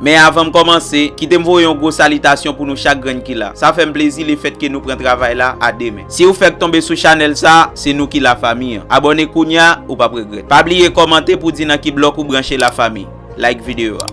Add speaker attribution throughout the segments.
Speaker 1: Men avan m kòmanse, kite m voye yon gwo salitasyon pou nou chak grenn ki la. Sa fè m plezi le fèt ke nou pran travay la a de men. Si ou fèk tonbe sou chanèl sa, se nou ki la fami an. Abòne kounya, ou pap regrèt. Pa bliye kòmante pou di nan ki blòk ou branche la fami. Like videyo a.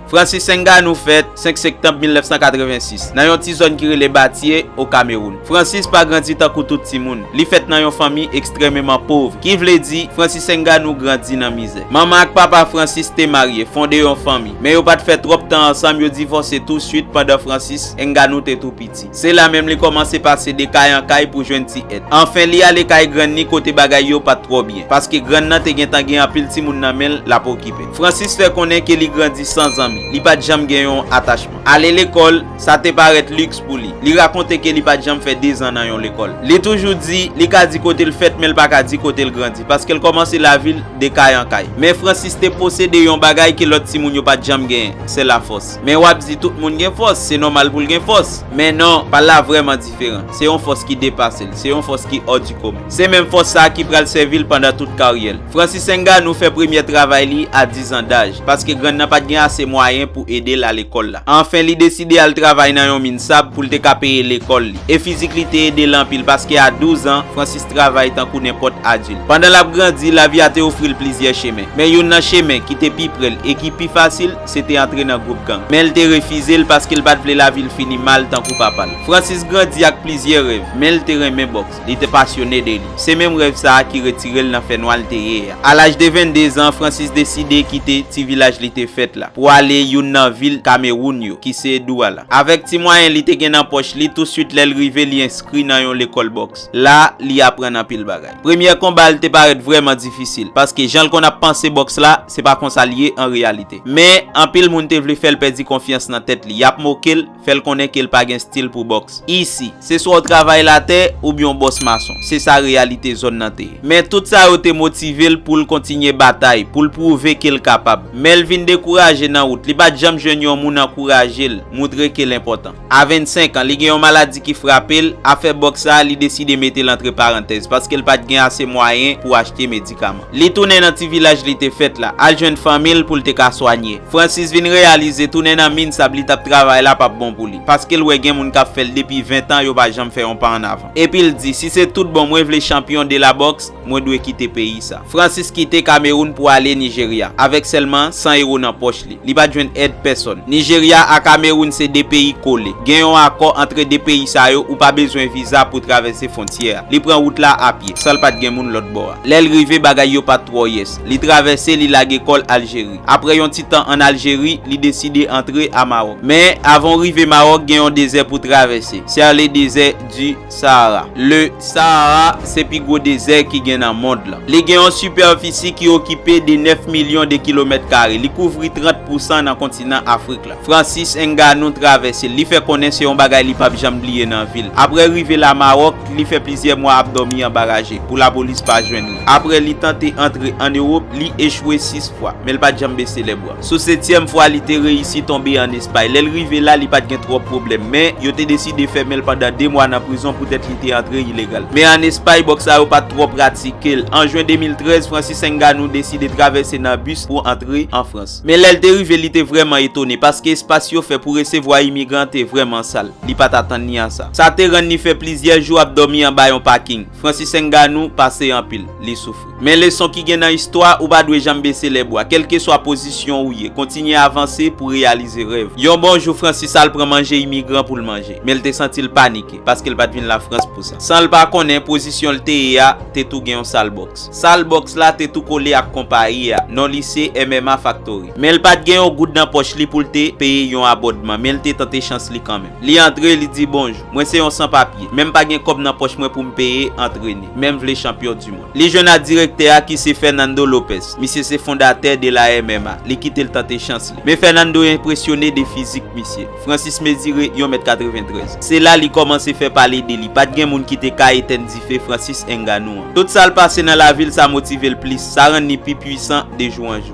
Speaker 1: Francis Enganou fèt, 5 sektanb 1986, nan yon ti zòn ki rele Batie, o Kamewoun. Francis pa grandi tankou tout timoun. Li fèt nan yon fanmi ekstrèmeman pov, ki vle di, Francis Ngannou grandi nan mizè. Manman ak papa Francis te marye, fonde yon fanmi, men yo pa t fè twòp tan ansanm, yo divòse tousuit pandan Francis Ngannou te tou piti. Se la menm li kòmanse pase de kay an kay pou jwenn ti èd. Anfen li ale kay grann ni kote bagay yo pat twò byen. Paske grann nan te gentan gen anpil timoun nan men l l ap okipe. Francis fè konnen ke li grandi san zanmi. Li pat janm gen yon atachman. Ale lekòl, sa te parèt liks pou li. Li rakonte ke li pat janm fè dezan nan yon lekòl. Li toujou di, li ka di kote l fèt men l pa ka di kote l grandi. Paske l kòmanse lavi l de kay an kay. Men Francis te posede yon bagay ke lòt timoun yo pat janm genyen, se lafòs. Men wap di tout moun gen fòs, se nòmal pou l gen fòs. Men non, pa l la vrèman diferan. Se yon fòs ki depase l, se yon fòs ki hors du commun. Se menm fòs sa a ki pral sèvi l pandan tout karyè l. Francis Ngannou fè premyè travay li a 10 an daj, paske grann nan pat gen ase mwayen pou ede l a lekòl la. Anfen, li deside al travay nan yon min sab pou l te ka peye lekòl li. E fizik li te ede l anpil, paske a 12 an, Francis travay tankou nenpòt adilt. Pandan l ap grandi, lavi a te ofri l plizyè chemen. Men youn nan chemen ki te pi pre l e ki pi fasil, Se te antre nan gwoup gang. Men l te refize l paske l pa t vle lavi l fini mal tankou papa l. Francis grandi ak plizyè rèv, men l te renmen bòks. Li te pasyone de li. Se menm rèv sa a ki retire l nan fènwa l te ye a. A laj de 22 zan, Francis deside kite ti vilaj li te fèt la pou ale youn nan vil Kamewoun yo ki se Douala. Avèk ti mwayen li te gen nan pòch li, tousuit lè l rive li enskri nan yon lekòl bòks. La, li aprann anpil bagay. Premyè konba l te parèt vrèman difisil, paske jan l konn ap panse bòks la, se pa konsa l ye an reyalite. Men, anpil moun te vle fè l pèdi konfyans nan tèt li, y ap moke l, fè l konnen ke l pa gen stil pou bòks. Isi, se swa w travay latè, oubyen w bòs mason. Se sa reyalite zòn nan te ye. Men, tout sa yo te motive l pou l kontinye batay, pou l pwouve ke l kapab. Men l vin dekouraje nan wout. Li pa t janm jwenn yon moun ankouraje l, moutre ke l enpòtan. A 25 an, li gen yon maladi ki frape l, afè boks la, li deside mete l antre parantèz, paske l pa t gen ase mwayen pou achte medikaman. Li tounen nan ti vilaj li te fèt la, al jwenn fanmi l pou l te ka swanye. Francis vin reyalize tounen nan min sab li t ap travay la p ap bon pou li, paske l wè gen moun k ap fè l depi 20 tan yo pa janm fè yon pa annavan. Epi l di, si se tout bon mwen vle chanpyon de la boks, Mwen dwe kite peyi sa. Francis kite Kameroun pou ale Nijerya, avèk sèlman 100 ewo nan pòch li. Li pa t jwenn èd pèsòn. Nijerya a Kameroun se 2 peyi kole. Gen yon akò antre 2 peyi sa yo, ou pa bezwen viza pou travèse fwontyè a. Li pran wout la apye, san l pa t gen moun lòt bò a. Lè l rive, bagay yo pa t twò yès. Li travèse, li lage kò l Aljeri. Apre yon ti tan ann Aljeri, li deside antre a Mawòk. Men, avan w rive Mawòk, gen yon dezè pou w travèse. Ser le désert du. Sahara. Le Sahara se pi gwo dezè ki gen nan mond lan. Li gen yon sipèfisi ki okipe de 9 milyon de kilomèt kare. Li kouvri 30 pousan nan kontinan Afrik la. Francis Ngannou travèse l. Li fè konnen se yon bagay li pap janm bliye nan vi l. Aprè rive la Maròk, li fè plizyè mwa ap dòmi anba raje, pou lapolis pa jwenn li. Aprè li tante antre an Ewop, li echwe 6 fwa, men l pat janm bese lèbra. Sou setyèm fwa li te reyisi tonbe an Espay. Lè l rive la, li pa t gen twòp pwoblèm. Men, yo te deside fèmen l pandan de mwa nan prizon poutèt li te antre ilegal. Men an Espay, bòks sa yo pa t twò pratike l. An jen 2013, Francis Enganou deside travèse nan bis pou antre an Frans. Men lè l te rive, li te vrèman etone, paske espas yo fè pou resevwa imigran te vrèman sal. Li pa t atann ni a sa. Sa te rann li fè plizyè jou ap dòmi anba yon paking. Francis Ngannou pase anpil, li soufri. Men leson ki gen nan istwa, ou pa dwe janm bese lè bwa. Kelkeswa pozisyon ou ye, kontinye avanse pou reyalize rèv. Yon bon jou Francis al pran manje imigran pou l manje. Men l te santi l panike, paske l pa t vin Lafrans pou sa. San l pa konnen, pozisyon l te ye a te tou gen yon sal bòks. Sal bòks la te tou kole ak konpayi a, non li se MMA Factory. Men l pa t gen yon goud nan pòch li pou l te peye yon abòdman, men l te tante chans li kanmenm. Li antre, li di bonjou. Mwen se yon san papye. Menm pa gen kòb nan pòch mwen pou m peye antrene. Men m vle chanpyon du mond. Li jwenn ak direktè a ki se Fernando Lopez. Misye se fondatè de la MMA. Li kite l tante chans li. Men Fernando enpresyone de fizik misye. Francis mezire yon mèt 93. Se la li kòmanse fè pale de li. Pa t gen moun ki te ka etenn dife Francis Ngannou an. Tout sa l pase nan lavi l sa motive l plis. Sa rann li pi pwisan de jou an jou.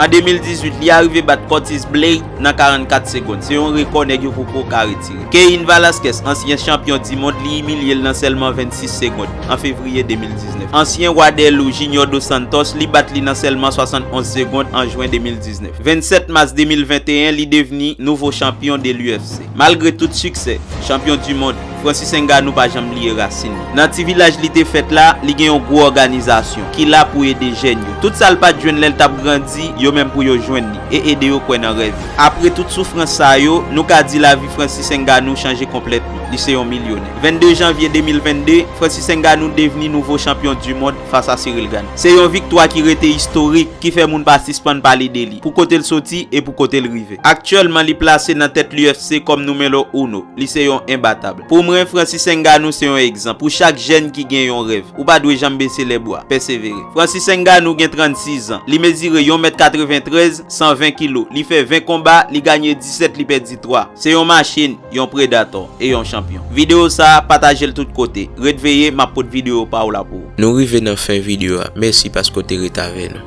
Speaker 1: An 2018, li arive bat Curtis Blade nan 44 segond. Se yon rekò nèg yo poko ka retire. Cain Velasquez, ansyen chanpyon dimond, li imilye l nan sèlman 26 segond, an fevriye 2019. Ansyen wa dè lou, Junior Dos Santos, li bat li nan sèlman 71 segond an jwen 2019. 27 mas 2021, li devni nouvo chanpyon de l'UFC. Malgre tout siksè, chanpyon du mond, Francis Ngannou pa janm bliye rasin li. Nan ti vilaj li te fèt la, li gen yon gwo òganizasyon ki la pou ede jèn yo. Tout sa l pa t jwenn lè l t ap grandi, yo menm pou yo jwenn li e ede yo kwè nan rèv yo. Apre tout soufrans sa yo, nou ka di lavi Francis Ngannou chanje konplètman. Li se yon milyonè. 22 janvye 2022, Francis Ngannou devni nouvo chanpyon du mond fas a Ciryl Gane. Se yon viktwa ki rete istorik, ki fè moun pa sispann pale de li. pou kote l soti e pou kote l rive. Aktyèlman li plase nan tèt l'UFC kòm numelo uno, li se yon enbatab. Pou mwen Francis Ngannou se yon egzanp pou chak jèn ki gen yon rèv, ou pa dwe janm bese lè bwa, pèsevere. Francis Ngannou gen 36 zan, li mezire yon mèt 93, 120 kilo, li fè 20 konba, li ganye 17 li pèdi 3. Se yon machin, yon predator, e yon chanpyon. Video sa, pataje l tout kote. Ret veye, m ap pot video pa w la pou ou. Nou rive nan fen
Speaker 2: video a, mèsi paske w te ret avè nou.